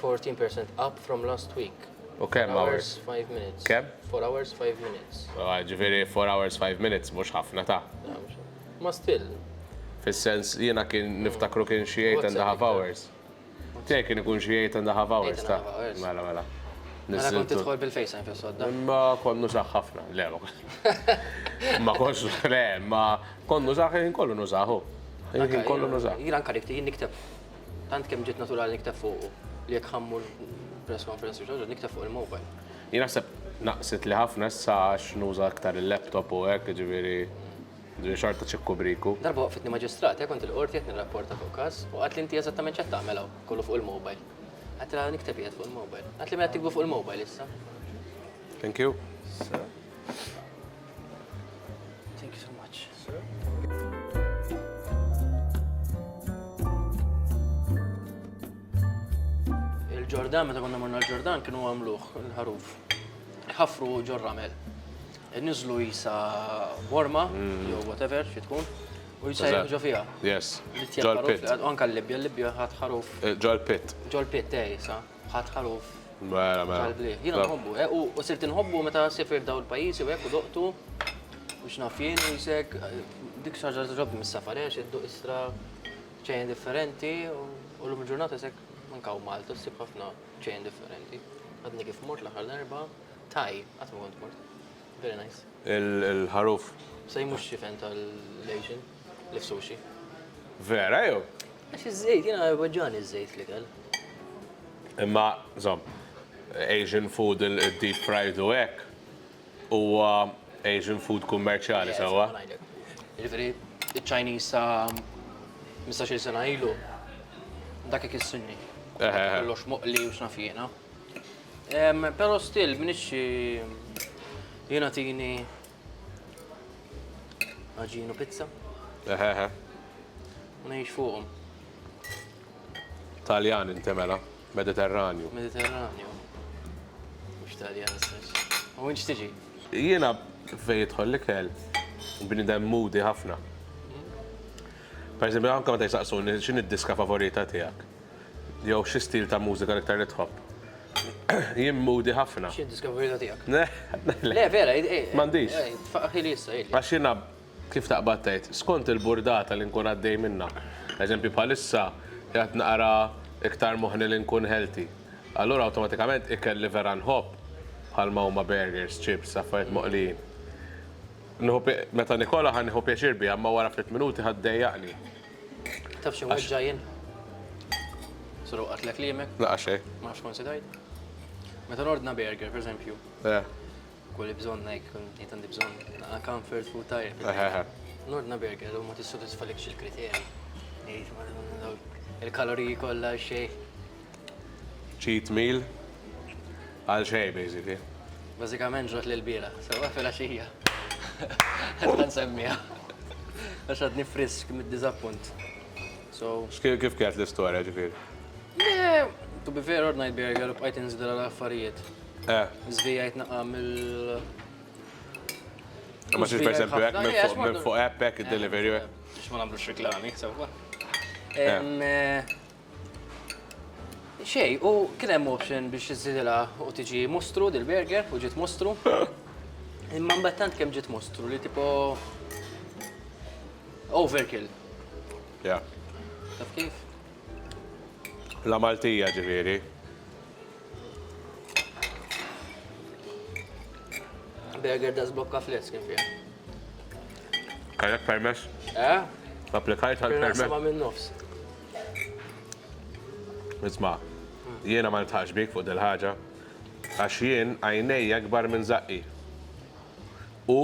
14% up from last week. U kemm hours? 5 minutes. Kemm? 4 hours 5 minutes. Ġifieri 4 hours 5 minutes mhux ħafna ta'. Ma still. Fis-sens jiena kien mm. niftakru kien xi 8 and a half hours. Tiegħek kien ikun xi 8 and a half hours ta'. Mela mela. Mela kont tidħol bil-fejsa fis sodda. Ma konnu saħ ħafna, le ma konx le, ma konnu saħ kollu nużaħu. Kollu nużaħ. Jiena anka nikteb Tant kemm ġiet naturali nikteb fuqu li jekk ħammur press conference u nikteb fuq il-mobile. Jien naħseb naqset li ħafna issa għax nuża aktar il-laptop u hekk, ġifieri ġifieri xorta ċikku briku. Darba waqfitni maġistrata, kont il-qorti qed nirrapporta fuq każ u qatli inti eżattament x'qed tagħmel hawn, kollu fuq il-mobile. Għedtilha nikteb qiegħed fuq il-mobile. Qatli mela tiktbu fuq il-mobile issa. Thank you. Thank you so much. Il-Ġordan, meta konna morna l-Ġordan, kienu għamluħ il-ħaruf. ħafru ġorramel. Nizlu jisa worma, mm. jew whatever, xi tkun. U jisajr ġo fija. Yes. Ġol pit. Anka l-Libja, l-Libja ħat ħaruf. Eh, ġol pit. Ġol pit, tej, eh, sa. Ħadt ħaruf tal-bliet. Jiena nħobbu, eh, u sirt inħobbu meta sifirt dawn il-pajjiżi u hekk u doqtu u x'naf jien u jisek dik xi ħaġa ġobni mis-safarexx, idduq istra ċejn differenti u llum il-ġurnata jisek anke hawn Malta ssib ħafna ċejn differenti. Għadni kif mort l-aħħar darba, Thai, qatt ma kont mort. Very nice. Il-ħaruf. Sa jmux xifen tal-Asian, li sushi. Vera, jew? Għax iż-żejt, jena għagġani iż-żejt li kell. Imma, zom, Asian food, il-deep fried u ek, u Asian food kummerċali, sawa? Ġifiri, il-Chinese sa 15 sena ilu, dak ikissinni. Kollox moqli u xnafjena. Pero still, minix jena tini għagġinu pizza. Eħeħe. Nejx fuqom. Taljan intemela, Mediterranju. Mediterranju. Mux Taljan, u inċ tiġi? Jena fej jitħol li kell, bnidem mudi ħafna. Per esempio, anka ma tajsaqsuni, xin id-diska favorita tijak? Jew xi stil ta' mużika l-iktar li tħobb? Jien moody ħafna. Xi diskavurita tiegħek? Le, vera, m'għandix. Faħħili issa, jgħid. Għax jiena kif taqbad tgħid, skont il-burdata li nkun għaddej minnha. Eżempju bħalissa qiegħed naqra iktar moħħni li nkun healthy. Allura awtomatikament ikel li vera nħobb bħalma huma burgers, chips, affarijiet moqlijin. Nieħu meta nikolha ħa nieħu pjaċir biha imma wara ftit minuti ħa ddejjaqni. Taf xi weġġa' jien? Suru qatlek liemek? Laqa xej. Ma nafx kon sidajt. Meta nordna burger, per eżempju. Eh. Kulli bżonn hekk, jien għandi bżonn. Laqa comfort food tajjeb. Eh, eh, eh. Nordna burger u ma tissodisfalekx il-kriterji. Il-kaloriji kollha xej. Cheat meal għal xejn basically. Bażikament ġrat li l-bieraħ, sewwa filgħaxija. Ħerqan nsemmiha. Għax għadni frisk mid-diżappunt. So. X'kien kif kienet l-istorja ġifieri? Le, to be fair ordnajt burger u bqajt inżidha għal affarijiet. Eh. Żvijajt naqqa' mill. Ma xiex per esempio hekk minn fuq minn fuq app hekk id-delivery. Biex ma nagħmlux reklami, sewwa. Eh. Xej, u kien hemm option biex iżidilha u tiġi mostru dil-burger u ġiet mostru. Imma mbagħad tant kemm ġiet mostru li tipo overkill. Ja. Taf kif? La Maltija ġifieri. Burger da zblokka flex kien fiha. Kellek permess? Eh? Applikajt għal permess? Kien naqsama minn nofs. Isma', jiena ma niltħaqx bik fuq dil-ħaġa għax jien għajnejja akbar minn żaqqi. U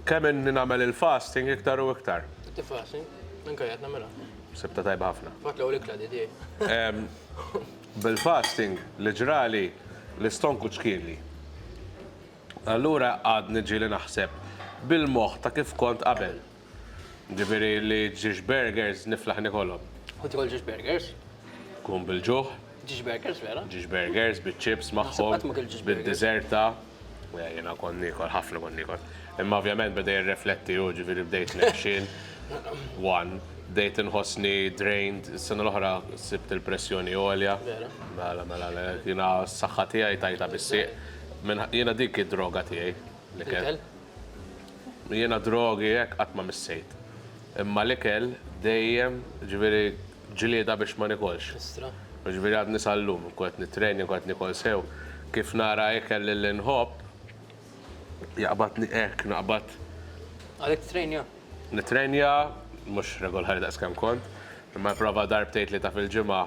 kemm inni nagħmel il-fasting iktar u iktar. Inti fasting? Minn kajja tnagħmilha? Sibta tajba ħafna. Fatt l-ewwel ikla di tiegħi. Bil-fasting li ġrali l-istonku ċkienli. Allura għadni ġieli naħseb bil-moħħ ta' kif kont qabel. Jiġifieri li ġiex burgers niflaħ nikolhom. U tiekol ġiex burgers. Tkun bil-ġuħ. Ġiex burgers vera. Ġiex burgers biċ-chips magħhom. Naħseb qatt ma kilt ġiex burgers. Bid-diżerta. Le jiena kont niekol, ħafna kont niekol. Imma ovvjament beda jirrefletti hu, ġifieri bdejt nexxin, one. Bdejt inħossni drained, is-sena l-oħra sibt il-pressjoni għolja. Vera. Mela, mela le. Jiena s-saħħa tiegħi tajtha bis-sieq. Jiena dik hi d-droga tiegħi. L-ikel. Jiena d-drogi hekk qatt ma missejt. Imma l-ikel dejjem, jiġifieri ġlieda biex ma nikolx. Jiġifieri għadni sal-lum inkun qed nittrejning u qed nikol sew, kif nara ikel li nħobb, jaqbadni hekk, naqbad. Għalhekk tittrejnja? Nittrejnja, mhux regolari daqs kemm kont, imma nipprova darbtejn tlieta fil-ġimgħa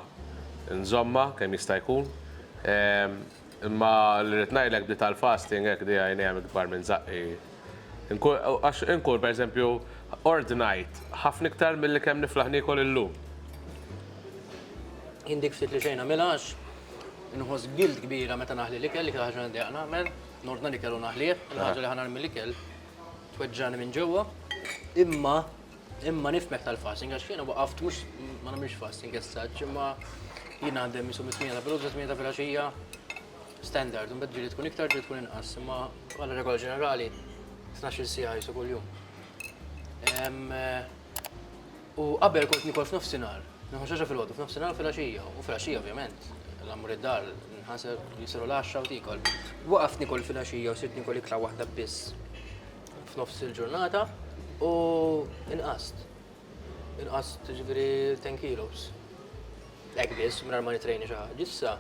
nżommha kemm jista' jkun. Imma li rrid ngħidlek bdiet għal fasting hekk li għajnejha hemm ikbar minn żaqqi. Inkun għax inkun per eżempju ordnajt ħafna iktar milli kemm niflaħ niekol illum. Jien dik ftit li xejn nagħmilha għax inħoss guilt kbira meta naħli l-ikel, l-iktar ħaġa li ndejjaq nagħmel, nordna l-ikel u naħlih, il-ħaġa li ħa nagħmel l-ikel tweġġagħni minn ġewwa. Imma Imma nifmek tal-fasting, għax jiena waqaft mhux ma nagħmilx fasting as such, imma jien għandem jisu mit-8 ta' filgħodu sa 8 ta' filgħaxija standard, imbagħad ġieli tkun iktar ġieli tkun inqas, imma bħala regola ġenerali 12 siegħa jisu kuljum. U qabel kont nikol f'nofsinhar, nieħu xaġa filgħodu, f'nofsinhar u filgħaxija, u filgħaxija ovvjament, l-ammur id-dar, nħaseb jisiru l-10 u tikol. Waqaft nikol filgħaxija u sirt nikol ikla waħda biss. f'nofs il-ġurnata u inqast. Inqast ġifieri 10 kilos. Hekk biss mingħajr ma nitrejni xi ħaġa. Issa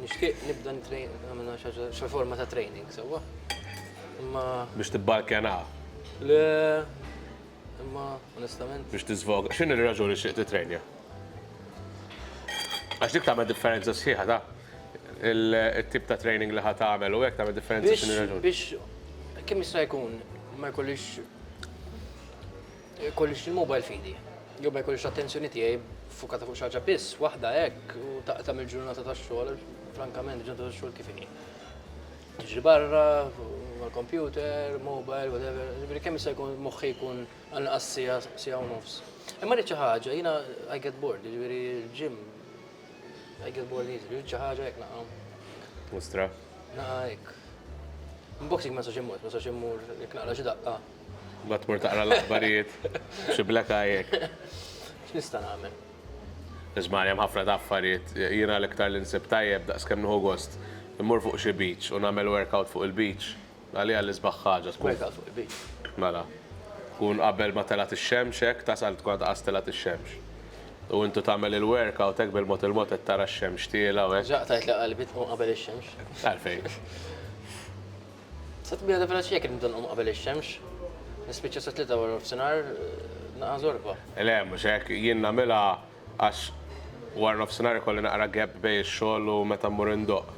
nixtieq nibda nitrejn nagħmel xi ħaġa xi forma ta' training sewwa. Imma Biex tibbalkena, le imma onestament biex tiżvoga. X'inhi r-raġuni xtieq titrejnja? Għax dik tagħmel differenza sħiħa, taf. it-tip ta' training li ħa tagħmel u hekk tagħmel differenza Biex, x'inhi raġuni. biex kemm jista' jkun ma jkollix jkollix il-mobile f'idi. Jew ma jkollix l-attenzjoni tiegħi fukata fuq xi ħaġa biss, waħda hekk u taqta' mill-ġurnata tax-xogħol, għax frankament il-ġurnata tax-xogħol kif inhi. Tiġri barra, mal-kompjuter, mobile, whatever, jiġifieri kemm jista' jkun moħħi jkun għal inqas siegħa, siegħa u nofs. Imma rrid xi ħaġa, jiena I get bored, jiġifieri l-gym Għajk il-ball li jizri, xi ħaġa hekk naqa'. Mustra. Naqa' hekk. Unboxing ma sax immur, ma sax immur jekk naqra xi daqqa. Ma tmur taqra l-aħbarijiet, xi black eye hekk. X'nista' nagħmel? Isma' hemm ħafna ta' affarijiet, jiena l-iktar li nsib tajjeb daqskemm nieħu gost, immur fuq xi beach u nagħmel workout fuq il-beach. Għaliha l-isbaħ ħaġa tkun. Meta fuq il-bib. Mela. Tkun qabel ma telgħet ix-xemx hekk, tasal tkun għadha qas telgħet ix-xemx. U intu tagħmel il-workout hekk bil-mod il-mod qed tara x-xemx tiela' u hekk. Diġà qtajt li qalbi tqum qabel ix-xemx. Għalfejn? Sa tbiegħda velaċi jekk nibda nqum qabel ix-xemx. Nispiċċa sa tlieta waranofsinhar naqa' żorba. Le, mhux hekk. Jien nagħmilha Għax warnofsinhar ikolli naqra gap bejn ix-xogħol u meta mmur indoqq.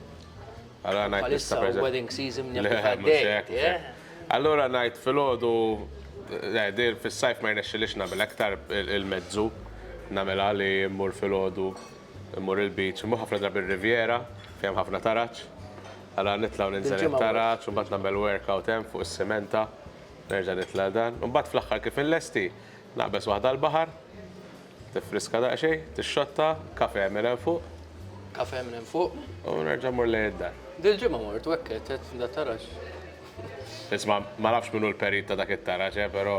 Allura ngħid nista' pereżempju. Bħalissa wedding season jaf kif għaddej. Allura ngħid filgħodu, le din fis-sajf ma jirnexxilix nagħmilha iktar il-mezzu nagħmilha li mmur filgħodu mmur il-beach, immur ħafna drabi r-Riviera fejn hemm ħafna taraġ. Allura nitla' u ninżel it-taraġ u mbagħad nagħmel workout hemm fuq is-simenta, nerġa' nitla' dan. U mbagħad fl-aħħar kif inlesti, naqbeż waħda l-baħar. Tiffriska daqsxejn, tixxotta, kafè minn hemm fuq. Kafè minn hemm fuq. U nerġa' mmur lejn id-dar. Dil-ġimgħa mort u hekk għedt għedt da taraġ. Isma', ma nafx min hu l-perit ta' dak it-taraġ, eh, però,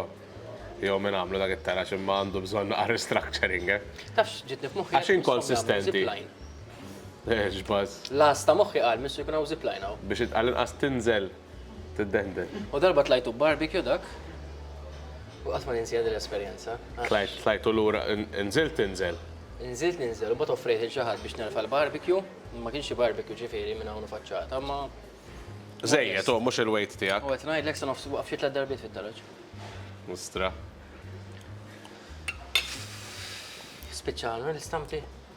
jew min għamlu dak it-taraġ, imma għandu bżonn naqa' restructuring, eh. Tafx x'ġietni f'moħħi għax jekk misshom jagħmlu zipline. Għax inkonsistenti. X'buzz. L-għażż ta' moħħi qal missu jkun hawn zipline hawn. Biex għall-inqas tinżel. Tiddendel. U darba tlajtu b'barbecue dak, u qatt ma ninsiha din l-esperjenza. Tlajt, tlajt u lura, nżilt tinżel? Nżilt ninżel u mbagħad offrejt lil xi ħadd biex nerfa' l-barbecue, ma kienx xi barbecue ġifieri minn hawn u faċċata, imma. Żejjed, hu mhux il-weight tiegħek. U qed ngħidlek sa nofs waqaf xi tliet darbiet fit-toroġ. Mustra. Spiċċa għandna l-istampi?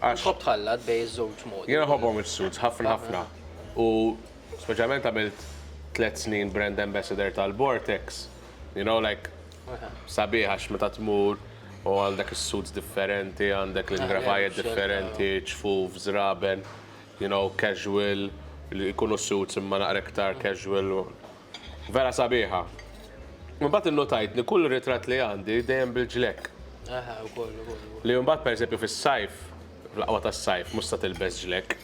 għax. Tħobb tħallat bejn iż-żewġ modi. Jien nħobbhom is-suits ħafna ħafna u speċjalment għamilt tliet snin brand ambassador tal-Vortex, you know like sabiħ għax meta tmur u għandek is-suits differenti, għandek l-ingrafajiet differenti, ġfuf, żraben, you know casual, li jkunu suits imma naqra iktar casual, Vera sabiħa. Mbagħad innutajt li kull ritratt li għandi dejjem bil-ġlekk. Aha, ukoll, ukoll. Li mbagħad pereżempju fis-sajf, fl-aqwa tas-sajf, mhux se tilbes ġlekk.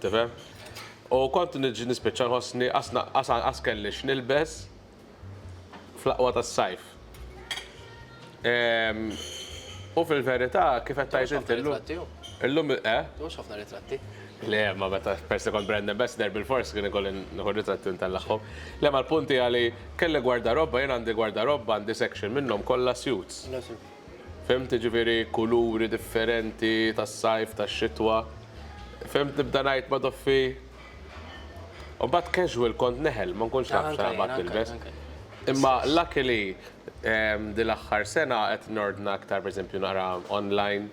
Tifhem? U kont niġi nispiċċa nħossni qas kelli x'nilbes fl-aqwa tas-sajf. Ehm, U fil-verità, kif qed tgħid inti llum. Illum eh? Mhux ħafna ritratti. Le, ma meta persi kont brand ambassador bil-fors kien ikolli nħu ritratti ntellaqhom. Le ma l-punti għali kelli gwardarobba, jien għandi gwardarobba għandi section minnhom kollha suits. Fimt ġifieri kuluri differenti tas-sajf, tax-xitwa. Fimt nibda ngħid ma doffi. U mbagħad casual kont neħel, ma nkunx naf x'naqbad nilbes. Imma luckily din l-aħħar sena qed nordna aktar pereżempju naqra online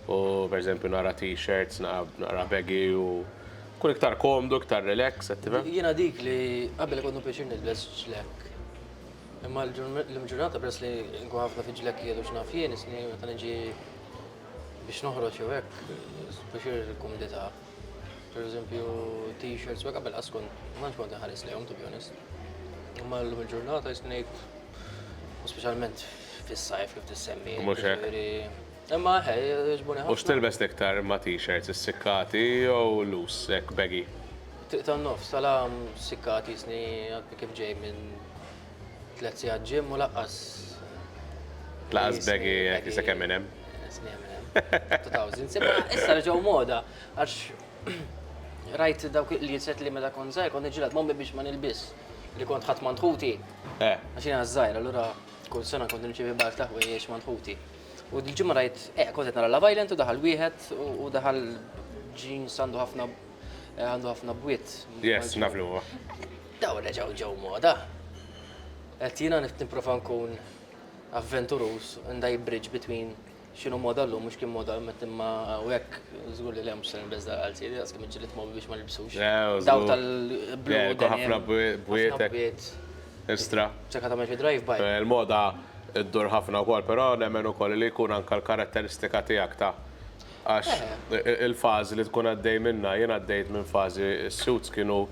u pereżempju naqra t-shirts, naqra baggy u nkun iktar komdu, iktar relax, qed tifhem? Jiena dik li qabel ikollu pjaċir nilbes ġlekk. Imma llum il-ġurnata peress li nkun ħafna fi ġlekkijiet u x'naf jien, isni meta niġi biex noħroġ jew hekk, pjaċir il-kumdità. Per eżempju, t-shirts, ma qabel qaskun, ma nx kont nħares lejhom, to be honest. Ma l-lum il-ġurnata jisnejt, u specialment fis-sajf kif tissemmi. Mux hekk. Imma he, ġbuni ħafna. U x'tilbes tiktar ma t-shirts, is-sikkati jew loose, hekk baggy? Triq tan-nofs, għala sikkati jisni kif ġej minn Tlet sigħat ġim u laqqas. Laqqas begi jekk se kemm hemm. Sni hemm hemm. 2000. Sibha issa reġgħu moda għax rajt dawk li jiset li meta kont żgħir kont niġġieled mommi biex ma nilbis li kont ħadd mandħuti. Eh. Għax jiena żgħir allura kull sena kont nirċievi barf ta' ħwejjeġ mandħuti. U l-ġimgħa rajt, eh, kont qed nara la Violent u daħal wieħed u daħal ġin sandu ħafna eh, għandu ħafna bwiet. Yes, naflu. Dawn reġgħu ġew moda. Qed jiena nipprova nkun avventuruż and I bridge between x'inhu moda llum u x'kien moda imma u hekk żgur li le mhux se nilbes dal-qalzieri daqs kemm iġġilidt momi biex ma nilbsux. Dawk tal-blu denim. Jekk ħafna bwiet estra. Sakemm tagħmel xi drive by. Il-moda ddur ħafna wkoll, però nemmen ukoll li jkun anke l-karatteristika tiegħek ta'. Għax il-fażi li tkun għaddej minnha, jien għaddejt minn fażi, is-suits kienu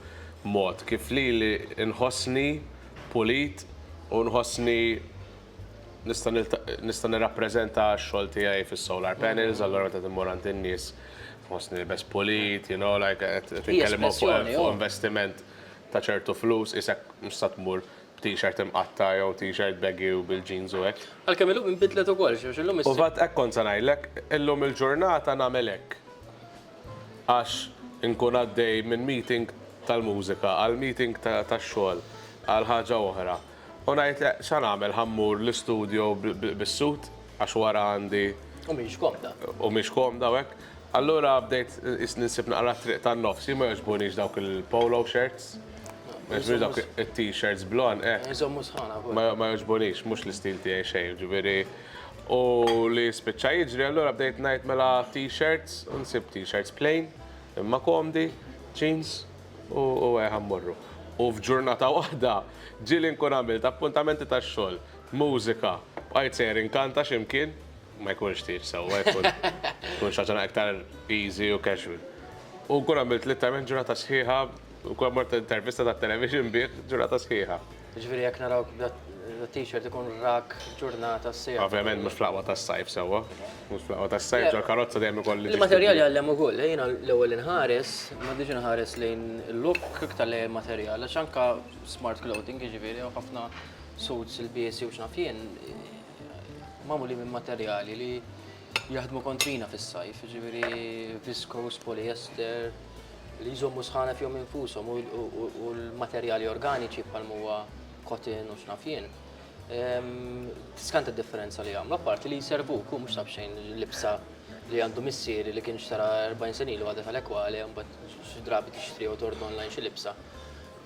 mod kif lili nħossni pulit u nħossni nista' nirrappreżenta x-xogħol tiegħi fis-solar panels, allura meta timmur għand in-nies nħossni nilbes pulit, you know, like qed nitkellem fuq investiment ta' ċertu flus, qisek mhux se tmur b'tixert imqatta' jew tixert baggy u bil-jeans u hekk. Għalkemm illum inbidlet ukoll xi għax illum issib. U f'għadd hekk kont se ngħidlek, illum il-ġurnata nagħmel hekk. Għax inkun għaddej minn meeting tal-mużika għal meeting tax-xogħol għal ħaġa oħra u ngħid le x'għa nagħmel ħa mmur l-istudio bis-suit għax wara għandi. U mhix komda. U mhix komda u hekk. Allura bdejt qisni nsib naqra t-triq tan-nofs. Jien ma jogħġbunix dawk il-polo shirts. Ma jogħġbunix dawk it-t-shirts blond, eh. Iżommu sħana wkoll. Ma, ma jogħġbunix, mhux l-istil tiegħi xejn, jiġifieri. U li spiċċa jiġri, allura bdejt ngħid mela t-shirts, u nsibt t-shirts plain, imma komdi, jeans, u, u hekk ħa mmorru. U f'ġurnata waħda ġieli nkun għamilt appuntamenti tax-xogħol, mużika, bqajt sejjer inkanta xi mkien. Ma jkunx tieġ sewwa, jkun tkun xi ħaġa iktar easy u casual. U nkun għamilt littament ġurnata sħiħa, nkun mort intervista tat-television bih ġurnata sħiħa. Ġifieri jekk narawk b'dat-t-shirt ikun rak ġurnata sħiħa. Ovvjament mhux fl-aqwa tas-sajf sewwa, mhux fl-aqwa tas-sajf ġol-karozza dejjem ikolli. Il-materjal jgħallem ukoll, jiena l-ewwel inħares, ma rridx inħares lejn il-look iktar lejn il-materjal għax anke smart clothing, jiġifieri hawn ħafna suits ilbiesi u x'naf jien, magħmulin minn materjali li jaħdmu kontrina fis-sajf, ġifieri viskos, poliester, li jżommu sħana fihom infushom u l-materjali organiċi bħal huwa kotin u xnafjien. Ehm, Skanta differenza li għamlu, apparti li jservu kum mhux xejn libsa li għandu missieri li kien xtara 40 sen ilu għadha tal-ekwali, mbagħad xi drabi tixtri u tord online xi libsa.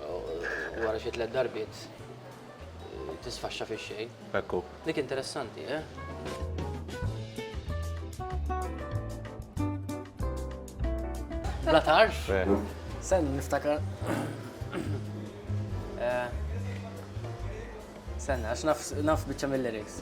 Wara xi tliet darbiet tisfaxxa fix-xejn. Hekk hu. Dik interessanti, eh? Bla tarf? Sen niftakar. Eh, sen, għax naf bieċa mill-lyrics.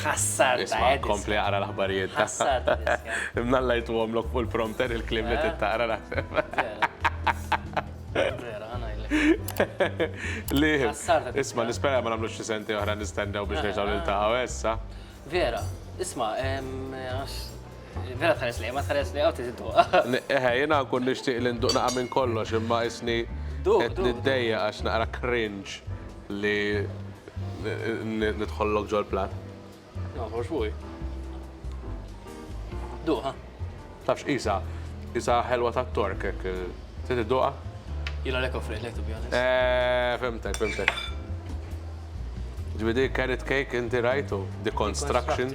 Ħassar ta' Isma' Edison. kompli aqra l-aħbarijiet. Ħassar ta' Edison. Imnallajtu għomlok fuq il-prompter il-kliem li trid taqra naħseb. Vera. Vera, ħa ngħidlek. Li. Ħassar ta' Edison. Isma' nispera ma nagħmlux xi sentejn oħra nistennew biex nerġgħu niltaqgħu, eh, sa? Vera. Isma', ehm, għax Vera tħares li, ma tħares li, għaw tizidu. Eħe, jena nkun nishtiq li nduq naqa minn kollox, imma isni qed niddejja għax naqra cringe li nidħollok ġol plat. No, for sure. Duqa. Tafx, isa, isa ħelwa ta' tork, ek, titi duqa? Jina lek offri, lek, to be honest. Eh, fimtek, fimtek. Ġvidi, carrot cake, inti rajtu, deconstruction.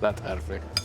Bla tħarfek.